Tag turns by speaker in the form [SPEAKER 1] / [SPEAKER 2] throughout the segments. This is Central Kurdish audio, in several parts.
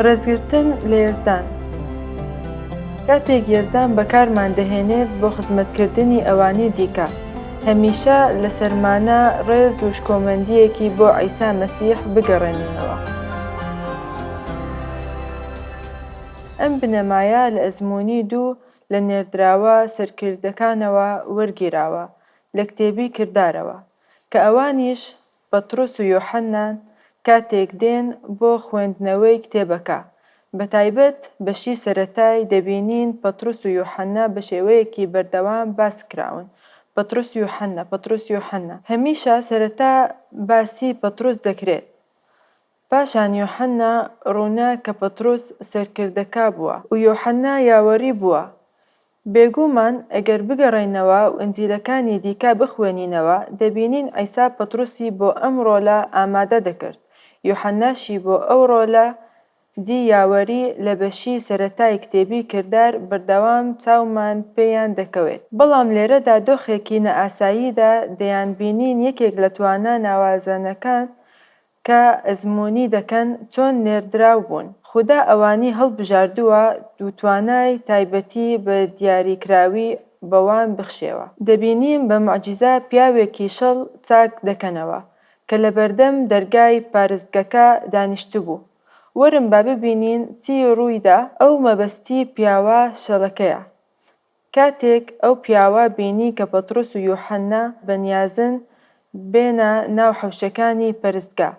[SPEAKER 1] ڕێزگرتن لە یەزدان کاتێک یەزدان بەکارمان دەهێنێت بۆ خزمەتکردنی ئەوانی دیکە هەمیشە لە سەرمانە ڕێز و شکۆمەندیەکی بۆ عیسا مەسیح بگەڕێنینەوە ئەم بنەمایە لە ئەزمموی دوو لە نێردراوە سەرکردەکانەوە وەرگیراوە لە کتێبی کردارەوە کە ئەوانیش پەترۆس و یۆحەننا کاتێک دێن بۆ خوێندنەوەی کتێبەکە، بەتایبەت بەشی سەرەتای، دەبینین پەترۆس و یۆحەننا بە شێوەیەکی بەردەوام باس کراون، پەترۆس یۆحەننا، پەترۆس یۆحەننا. هەمیشە سەرەتا باسی پەترۆس دەکرێت، پاشان یۆحەننا، ڕوونە کە پەترۆس سەرکردەکە بووە و یۆحەننا یاوەری بووە، بێگوومان ئەگەر بگەڕێینەوە و ئنجیلەکانی دیکە بخوێنینەوە دەبینین عیسا پطرسی بۆ ئەم ڕۆلە ئامادە دەکرد، یوحەناشی بۆ ئەو ڕۆلە دی یاوەری لە بەشی سەرەتای کتێبی کردار بەردەوام چاومان پێیان دەکەوێت، بەڵام لێرەدا دۆخێکی نائاساییدا دەیانبینین یەکێک لە توانا ناوازەنەکان کە ئەزموونی دەکەن چۆن نێردراو بوون. خودا ئەوانی هەڵبژاردووە و توانای تایبەتی بە دیاریکراوی بەوان بخشێوە. دەبینین بە موعجیزە پیاوێکی شڵ چاک دەکەنەوە کە لە بەردەم دەرگای پارستگەکە دانیشتبوو. وەرن با ببینین چی ڕوویدا، ئەو مەبەستی پیاوە شڵەکەیە کاتێک ئەو پیاوە بینی کە پەترۆس و یوحەننا بە نیازن بێنە ناو حەوشەکانی پەرستگا،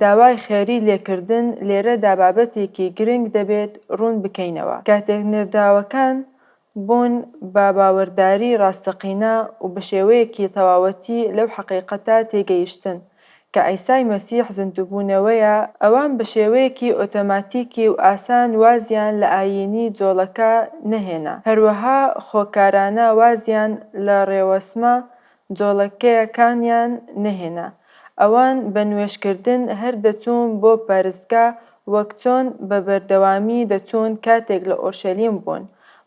[SPEAKER 1] داوای خێری لێکردن لێرەدا بابەتێکی گرنگ دەبێت ڕوون بکەینەوە، کاتێک نێردراوەکان بوون بە باوەرداری ڕاستەقینە و بە شێوەیەکی تەواوەتی لەو حەقیقەتە تێگەیشتن، کە عیسای مەسیح زیندووبوونەوەیە، ئەوان بە شێوەیەکی ئۆتۆماتیکی و ئاسان وازیان لە ئایینی جۆڵەکە نەهێنا، هەروەها خۆکارانە وازیان لە ڕێوەسمە جۆڵەکەیەکانیان نەهێنا. ئەوان بە نوێژکردن هەر دەچوون بۆ پەرستگا وەک چۆن بە بەردەوامی دەچوون کاتێک لە ئۆرشەلیم بوون،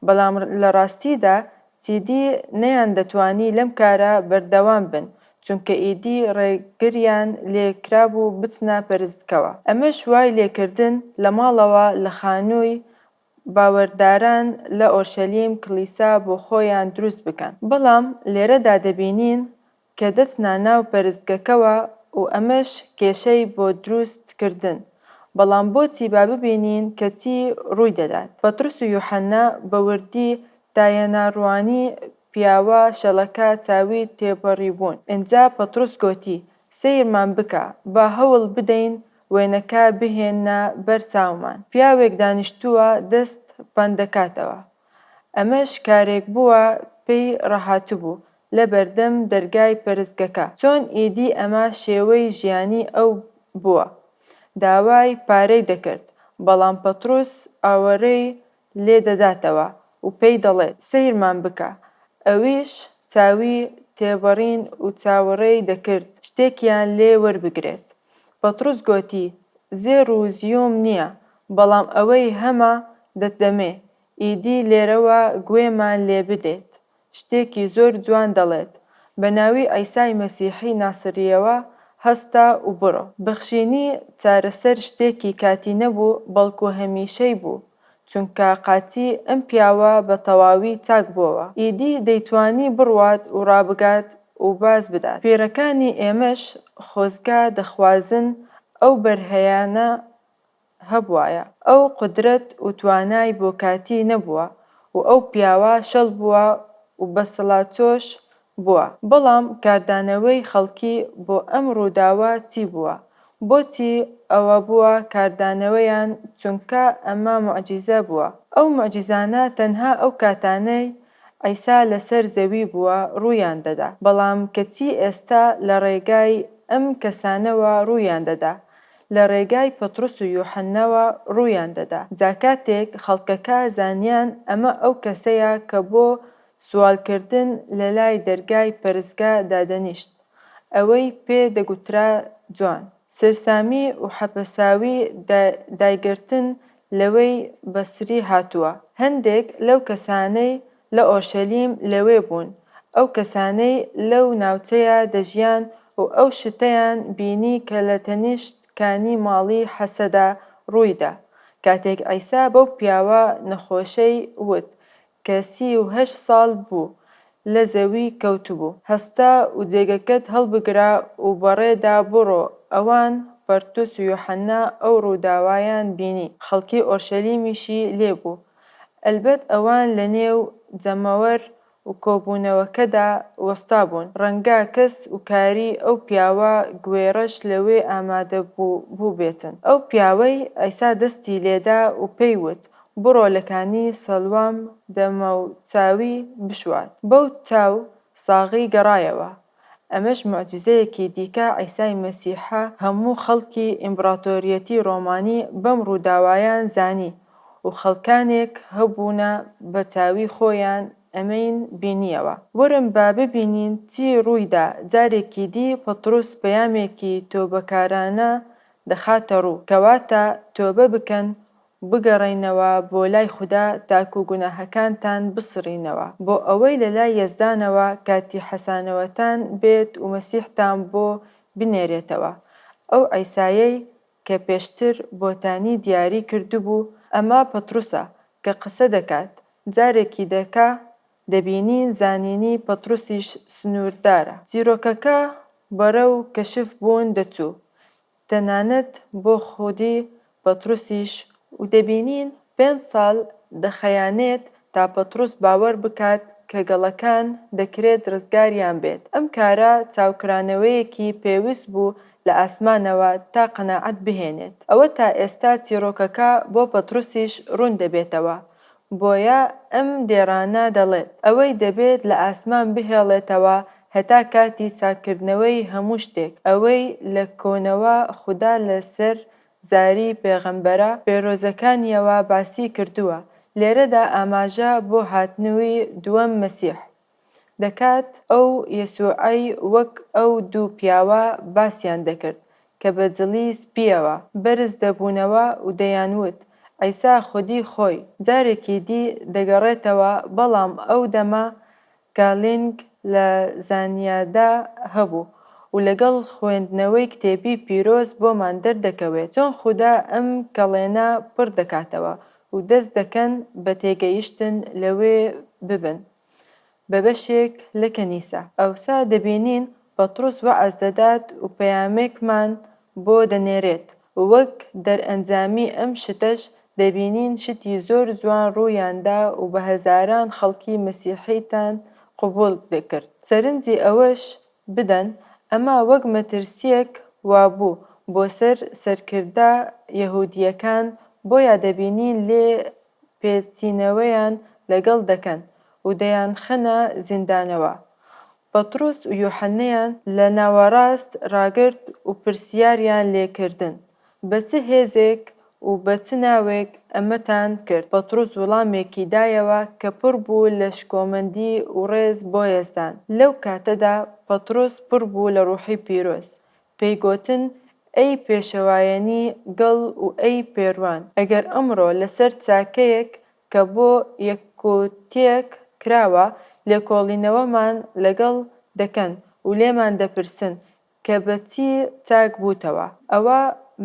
[SPEAKER 1] بەڵام لە ڕاستیدا چیدی نەیان دەتوانی لەم کارە بەردەوام بن چونکە ئیدی ڕێگریان لێ کرابوو بچنە پەرستگەوە ئەمەش وای لێکردن لە ماڵەوە لە خانووی باوەرداران لە ئۆرشەلیم کڵیسا بۆ خۆیان دروست بکەن. بەڵام لێرەدا دەبینین کە دەست نا ناو پەرستگەکەوە و ئەمەش کێشەی بۆ دروست کردن، بەڵام بۆچی با ببینین کە چی ڕووی دەدات، پەتڕس و یوحەنا بە وردی دایەنا ڕوانی پیاوە شەلەکە چاوی تێپەڕیبوون، ئنجا پەتڕس گۆتی، سەیرمان بکە، با هەوڵ بدەین وێنەکە بهێننە بەر چاومان، پیاوێک دانیشتووە دەست پەن دەکاتەوە ئەمەش کارێک بووە پێی ڕاهاتبوو لە بەردەم دەرگای پەرستگەکە، چۆن ئیدی ئەمە شێوەی ژیانی ئەو بووە، داوای پارەی دەکرد، بەڵام پەتڕوس ئاوەڕێی لێ دەداتەوە و پێی دەڵێت، سەیرمان بکە، ئەویش چاوی تێبەڕین و چاوەڕێی دەکرد شتێکیان لێ وەربگرێت، بەتڕوس گۆتی، زێڕ و زیۆم نییە، بەڵام ئەوەی هەمە دەتدەمێ، ئیدی لێرەوە گوێمان لێ بدەیت، شتێکی زۆر جوان دەڵێت، بە ناوی عیسای مەسیحی ناسرییەوە هەستە و بڕۆ. بەخشینی چارەسەر شتێکی کاتی نەبوو، بەڵکو هەمیشەی بوو. چونکە قاتی ئەم پیاوە بە تەواوی چاک بۆوە ئیدی دەیتوانی بڕوات و ڕابگات و باز بدات کوێرەکانی ئێمەش خۆزگا دەخوازن ئەو بەرهەیانە هەبوایە ئەو قودرەت و توانای بۆ کاتی نەبووە و ئەو پیاوە شەل بووە و بەسڵاچۆش بووە، بەڵام کاردانەوەی خەڵکی بۆ ئەم ڕووداوە چی بووە؟ بۆچی ئەوە بووە کاردانەوەیان؟ چونکە ئەمە موعجیزە بووە. ئەو موعجیزانە تەنها ئەو کاتانەی عیسا لەسەر زەوی بووە ڕوویان دەدا، بەڵام کەچی ئێستا لە ڕێگای ئەم کەسانەوە ڕوویان دەدا، لە ڕێگای پەتڕس و یوحەنناوە ڕوویان دەدا. جا کاتێک خەڵکەکە زانیان ئەمە ئەو کەسەیە کە بۆ سوال کردن لە لای دەرگای پەرستگا دادەنیشت ئەوەی پێ دەگوترا جوان. سەرسامی و حەپەساوی دایگرتن لەوەی بەسری هاتووە. هەندێک لەو کەسانەی لە ئۆرشەلیم لەوێ بوون، ئەو کەسانەی لەو ناوچەیە دەژیان و ئەو شتەیان بینی کە لە تەنیشت کانی ماڵی حەسەدا ڕووی دا، کاتێک عیسا بەو پیاوە نەخۆشەی وت، کە سی و هەشت ساڵ بوو لە زەوی کەوتبوو، هەستا و جێگەکەت هەڵبگرە و بەڕێدا بڕۆ، ئەوان، پەرتوس و یوحەنا، ئەو ڕووداوەیان بینی، خەڵکی ئۆرشەلیمیشی لێ بوو، ئەلبەت ئەوان لەنێو جەمەوەر و کۆبوونەوەکەدا وەستابوون، ڕەنگە کەس و کاری ئەو پیاوە گوێڕەش لەوێ ئامادە بووبێتن، ئەو پیاوەی عیسا دەستی لێدا و پێی وت، بڕۆ لە کانی سەڵوام دەمەو چاوی بشوات بەو چاو ساغەی گەڕایەوە ئەمەش موعجیزەیەکی دیکە عیسای مەسیحە هەموو خەڵکی ئیمبڕاتۆریەتی ڕۆمانی بەم ڕووداوایان زانی و خەڵکانێک هەبوونە بە چاوی خۆیان ئەمەین بینیەوە وەرن با ببینین چی ڕوویدا جارێکی دی پەتڕوس پەیامێکی تۆبەکارانە دەخاتە ڕوو کەواتە تۆبە بکەن بگەڕێنەوە بۆ لای خودا تاکو گوناهەکانتان بسڕینەوە بۆ ئەوەی لە لای یەزدانەوە کاتی حەسانەوەتان بێت ومەسیحتان بۆ بنێرێتەوە ئەو عیسایەی کە پێشتر بۆتانی دیاری کردبوو ئەمە پەتڕوسە کە قسە دەکات جارێکی دەکە دەبینین زانینی پەتڕوسیش سنوردارە چیرۆکەکە بەرەو کەشف بوون دەچوو تەنانەت بۆ خودی پەتروسیش و دەبینین پێنج ساڵ دەخەیانێت تا پەتروس باوەر بکات کە گەڵەکان دەکرێت رزگاریان بێت، ئەم کارە چاوکرانەوەیەکی پێوست بوو لە ئاسمانەوە تا قەناعەت بهێنێت. ئەوە تا ئێستا چیڕۆکەکە بۆ پەتروسیش روون دەبێتەوە بۆیە ئەم دێڕانە دەڵێت، ئەوەی دەبێت لە ئاسمان بهێڵێتەوە هەتا کاتی چاککردنەوەی هەموو شتێک، ئەوەی لە کۆنەوە خودا لەسەر زاری پێغەمبەرە پێرۆزەکانییەوە باسی کردووە، لێرەدا ئاماژە بۆ هاتنووی دووەم مەسیح دەکات، ئەو یەسووعەی وەک ئەو دوو پیاوە باسیان دەکرد کە بە جڵی سپییەوە بەرز دەبوونەوە و دەیانوت، عیسا خودی خۆی، جارێکی دی دەگەڕێتەوە، بەڵام ئەو دەمە گالینگ لە زانیادا هەبوو و لەگەڵ خوێندنەوەی کتێبی پیرۆز بۆمان دەردەکەوێت چۆن خودا ئەم کەڵێنە پڕ دەکاتەوە و دەست دەکەن بە تێگەیشتن لەوێ ببن. بە بەشێک لە کەنیسە. ئەوسا دەبینین پەتڕوس وەعز دەدات و پەیامێکمان بۆ دەنێرێت. وەک دەرئەنجامی ئەم شتەش دەبینین شتی زۆر جوان ڕوویان دا و بە هەزاران خەڵکی مەسیحیتان قبوڵ دەکرد. سەرنجی ئەوەش بدەن ئەمە وەک مەترسییەک وابوو بۆ سەر سەرکردە یەهودییەکان، بۆیە دەبینین لێ پێچینەوەیان لەگەڵ دەکەن و دەیانخەنە زیندانەوە. پەتڕۆس و یۆحەننەیان لە ناوەڕاست ڕاگرت و پرسیاریان لێ کردن، بە چ هێزێک و بە چ ناوێک ئەمەتان کرد؟ پەتڕۆس وڵامێکی دایەوە کە پڕ بوو لە شکۆمەندی و ڕێز بۆ یەزدان. لەو کاتەدا پەتڕۆس پڕ بوو لە ڕووحی پیرۆز، پێی گۆتن ئەی پێشەوایەنی گەڵ و ئەی پێروان، ئەگەر ئەمڕۆ لە سەر چاکەیەک کە بۆ یەککوتیەک کراوە لێکۆڵینەوەمان لە گەڵ دەکەن و لێمان دەپرسن کە بە چی چاک بووتەوە، ئەوا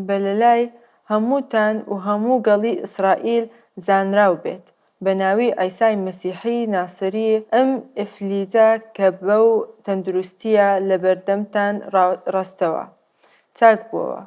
[SPEAKER 1] بە لە لای هەمووتان و هەموو گەڵی ئیسرائیل زانراو بێت بە ناوی عیسای مەسیحی ناسری ئەم ئیفلیجە کە بەو تەندروستییە لە بەردەمتان ڕاستەوە چاک بۆوە،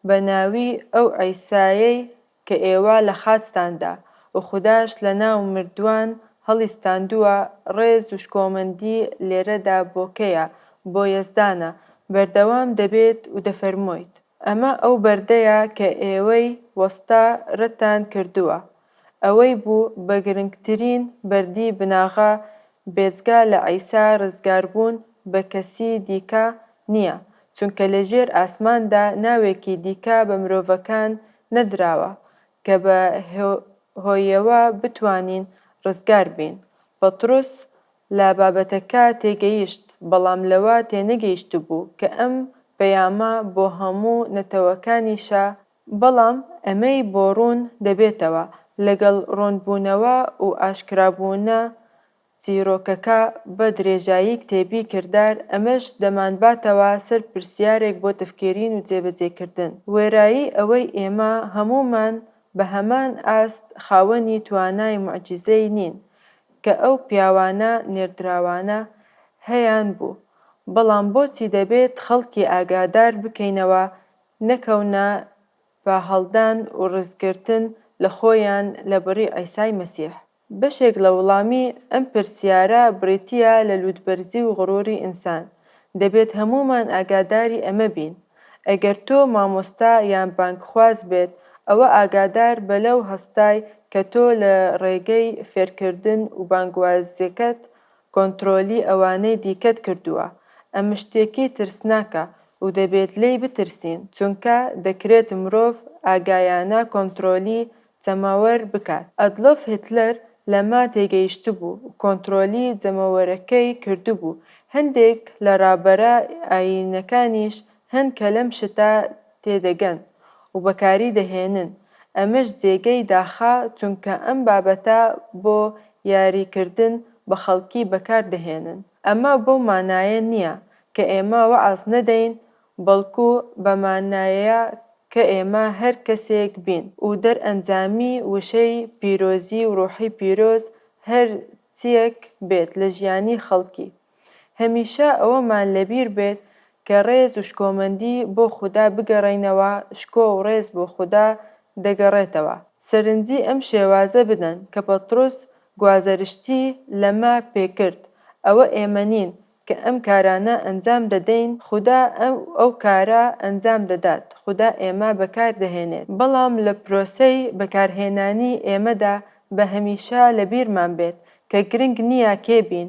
[SPEAKER 1] بە ناوی ئەو عیسایەی کە ئێوە لە خاچتان دا و خوداش لە ناو مردووان هەڵیستاندووە، ڕێز و شکۆمەندی لێرەدا بۆ کێیە؟ بۆ یەزدانە، بەردەوام دەبێت و دەفەرمۆیت. ئەمە ئەو بەردەیە کە ئێوەی وەستا رەتتان کردووە. ئەوەی بوو بە گرنگترین بەردی بناغە بێجگە لە عیسا ڕزگاربوون بە کەسی دیکە نییە، چونکە لە ژێر ئاسماندا ناوێکی دیکە بە مرۆڤەکان نەدراوە کە بە هۆیەوە بتوانین ڕزگار بین. پەتڕوس لە بابەتەکە تێگەیشت، بەڵام لەوە تێنەگەیشتبوو کە ئەم پەیامە بۆ هەموو نەتەوەکانیشە بەڵام ئەمەی بۆ ڕوون دەبێتەوە لەگەڵ ڕوونبوونەوە و ئاشکرابوونە چیرۆکەکە بە درێژایی کتێبی کردار، ئەمەش دەمانباتەوە سەر پرسیارێک بۆ تفکێرین و جێبەجێکردن، وێرایی ئەوەی ئێمە هەموومان بە هەمان ئاست خاوەنی توانای موعجیزەی نین کە ئەو پیاوانە نێردراوانە هەیانبوو، بەڵام بۆچی دەبێت خەڵکی ئاگادار بکەینەوە نەکەونە بە هەڵدان و ڕزگرتن لە خۆیان لە بڕی عیسای مەسیح؟ بەشێک لە وڵامی ئەم پرسیارە بریتییە لە لووتبەرزی و غرووری ئینسان. دەبێت هەموومان ئاگاداری ئەمە بین. ئەگەر تۆ مامۆستا یان بانگخواز بێت، ئەوە ئاگادار بە لەو هەستای کە تۆ لە ڕێگەی فێرکردن و بانگوازیەکەت کۆنترۆلی ئەوانەی دیکەت کردووە ئەمە شتێکی ترسناکە و دەبێت لێی بترسین چونکە دەکرێت مرۆڤ ئاگایانە کۆنترۆلی جەماوەر بکات ئەدلۆف هیتلەر لەمە تێگەیشتبوو و کۆنترۆلی جەمەوەرەکەی کردبوو هەندێک لە ڕابەرە ئایینیەکانیش هەن کە لەم شتە تێدەگەن و بەکاری دەهێنن، ئەمەش جێگەی داخە چونکە ئەم بابەتە بۆ یاری کردن بە خەڵکی بەکار دەهێنن، ئەمە بەو مانایە نییە کە ئێمە وەعز نەدەین بەڵکو بە مانایەیە کە ئێمە هەر کەسێک بین و دەرئەنجامی وشەی پیرۆزی و ڕۆحی پیرۆز هەر چییەک بێت لە ژیانی خەڵکی هەمیشە ئەوەمان لەبیر بێت کە ڕێز و شکۆمەندی بۆ خودا بگەڕێینەوە، شکۆ و ڕێز بۆ خودا دەگەڕێتەوە. سەرنجی ئەم شێوازە بدەن کە پەتڕۆس گوازەرشتی لەمە پێکرد، ئەوە ئێمە نین کە ئەم کارانە ئەنجام دەدەین، خودا ئەو کارە ئەنجام دەدات، خودا ئێمە بەکاردەهێنێت، بەڵام لە پرۆسەی بەکارهێنانی ئێمەدا با هەمیشە لەبیرمان بێت کە گرنگ نییە کێ بین،